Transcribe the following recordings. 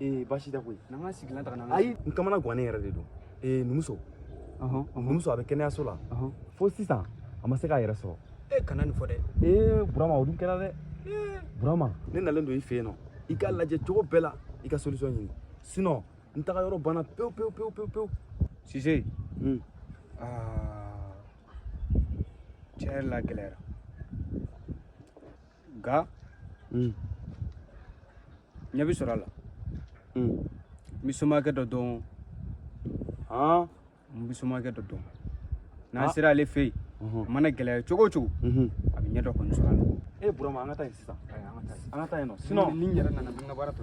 ee baasi tɛ koyi n'an ka sigilan ta ka na ayi n kamana gannen yɛrɛ de don ee n muso n muso a bɛ kɛnɛyaso la fo sisan a ma se k'a yɛrɛ sɔrɔ e kana nin fɔ dɛ ee burama o dun kɛra dɛ burama ne nalen don i fɛ yen nɔ i k'a lajɛ cogo bɛɛ la i ka solution ɲini sinon n taga yɔrɔ banna pewu pewu pewu pewu pewu sise tiɲɛ yɛrɛ la gɛlɛyara nka mm. ɲɛ bɛ sɔrɔ a la mm. n bɛ somakɛ dɔ dɔn n bɛ somakɛ dɔ dɔn n'an ah. sera ale fɛ yen uh-huh. a mana gɛlɛya cogo o cogo mm-hmm. a bɛ ɲɛ dɔ kɔni sɔrɔ a la e burama an ka taa yen sisan an ka taa yen nɔ sinon ni n yɛrɛ nana n ka baara tɔ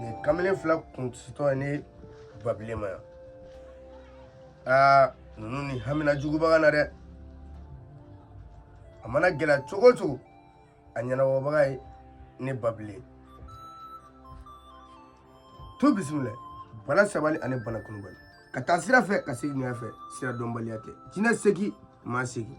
nin kamalen fila kunsintɔ ye ne babile ma yan aa ninnu ni hamina juguba ka na dɛ a mana gɛlɛya cogo o cogo a ɲɛnabɔbaga ye ne babile to bisimila bala sabali ani bana kunubali ka taa sira fɛ ka segin ɲɛ fɛ sira dɔnbaliya tɛ jinɛ segin maa segin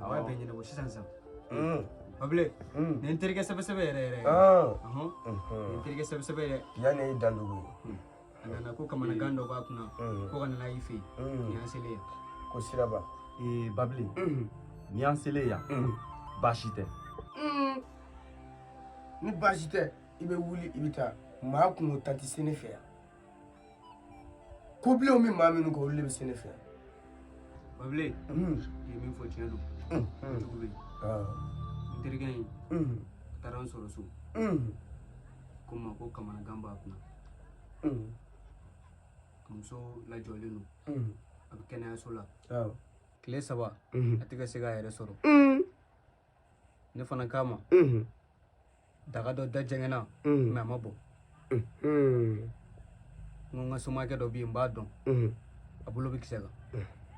a b'a bɛɛ ɲɛnabɔ sisan sisan babile nin ye n terikɛ sɛbɛsɛbɛ yɛrɛ yɛrɛ ɔhɔn nin n terikɛ sɛbɛsɛbɛ yɛrɛ yanni i dandugu ye a nana ko kamanagan dɔ b'a kunna ko an nana i fɛ yen nin y'an selen yan ko siraba ee babile ni y'an selen yan baasi tɛ ni baasi tɛ i bɛ wuli i bɛ taa maa kunkontan tɛ se ne fɛ yan ko bilenw bɛ maa minnu kɔ olu de bɛ se ne fɛ babile i ye min fɔ tiɲɛ don jugu bɛ n terikɛ in a taara n sɔrɔ so ko n ma ko kamanagan b'a kunna a muso lajɔlen don a bɛ kɛnɛyaso la tile saba a tɛ ka se k'a yɛrɛ sɔrɔ ne fana k'a ma mhm. daga dɔ da jɛngɛna mhm. mais a ma bɔn mhm. n ko n ka somakɛ dɔ bɛ yen n b'a dɔn a bolo bɛ kisɛ kan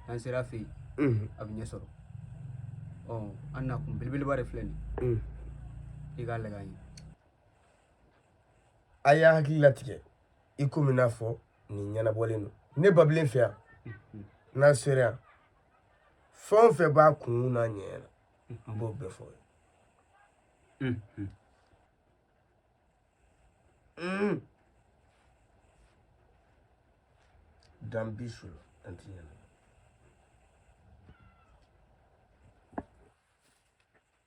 n'an sera a fɛ yen a bɛ ɲɛ sɔrɔ ɔ an na kun belebeleba de filɛ nin i k'a lajɛ an ye a y'a hakili latigɛ i komi n y'a fɔ nin ɲɛnabɔlen don ne babilen fɛ yan n'a sera yan fɛn o fɛn b'a kunna ɲɛ na n b'o bɛɛ fɔ i ye dan bi su la an ti ɲɛna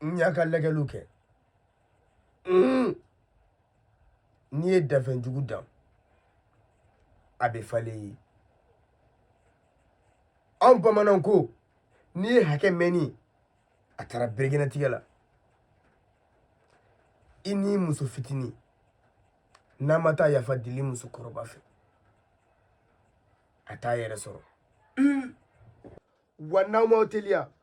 n y'a ka lajɛliw kɛ n'i ye danfɛn jugu dan a bɛ falen i ye anw bamananw ko n'i ye hakɛ mɛnni a taara bere kɛnɛ tigɛ la i ni muso fitinin n'a ma taa yafa deli muso kɔrɔba fɛ a t'a yɛrɛ sɔrɔ wa n'aw m'aw teliya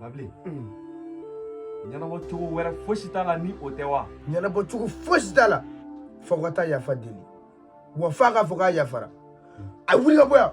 Babilen ɲɛnabɔ cogo wɛrɛ fosi t'a la ni o tɛ wa ɲɛnabɔ cogo fosi t'a la fo ka taa yafa deli wa f'a k'a fɔ k'a yafara a ye wuli ka bɔ yan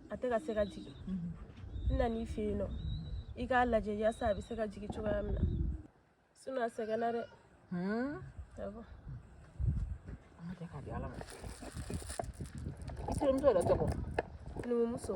a tɛ ka se ka jigin n nana i fɛ yen nɔ i k'a lajɛ yasa a bɛ se ka jigin cogoya min na sinɔn a sɛgɛnna dɛ awɔ an k'a kɛ k'a di ala ma i terimuso yɛrɛ tɔgɔ numumuso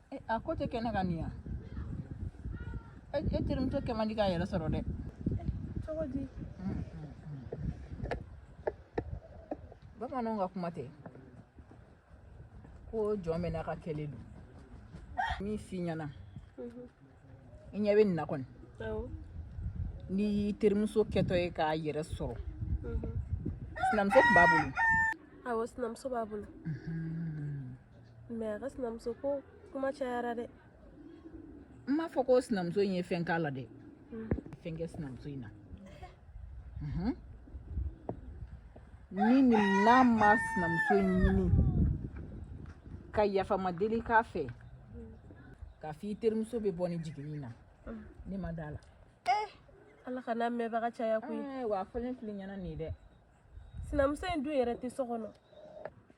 e, a ko tɛ kɛnɛ ka nin yan e, e terimuso kɛ man di k'a yɛrɛ sɔrɔ dɛ cogo di bamananw ka kuma tɛ ko jɔn bɛ n'a ka kɛlen don min f'i ɲɛna mhm. i ɲɛ bɛ nin na kɔni n'i y'i terimuso kɛtɔ ye k'a yɛrɛ sɔrɔ mhm. sinamuso tun b'a bolo awɔ sinamuso b'a bolo mhm. mɛ a ka sinamuso ko kuma cayara dɛ n m'a fɔ ko sinamuso in ye fɛn k'a la dɛ a ye fɛn kɛ sinamuso in na Mhm. ni nin n'a ma sinamuso in ɲini ka yafama deli k'a fɛ k'a fɔ i terimuso bɛ bɔ ni jiginni na ne ma d'a la ala kan'a mɛnbaga caya koyi Eh, wa a fɔlen filɛ i ɲɛna nin ye dɛ sinamuso in dun yɛrɛ tɛ so kɔnɔ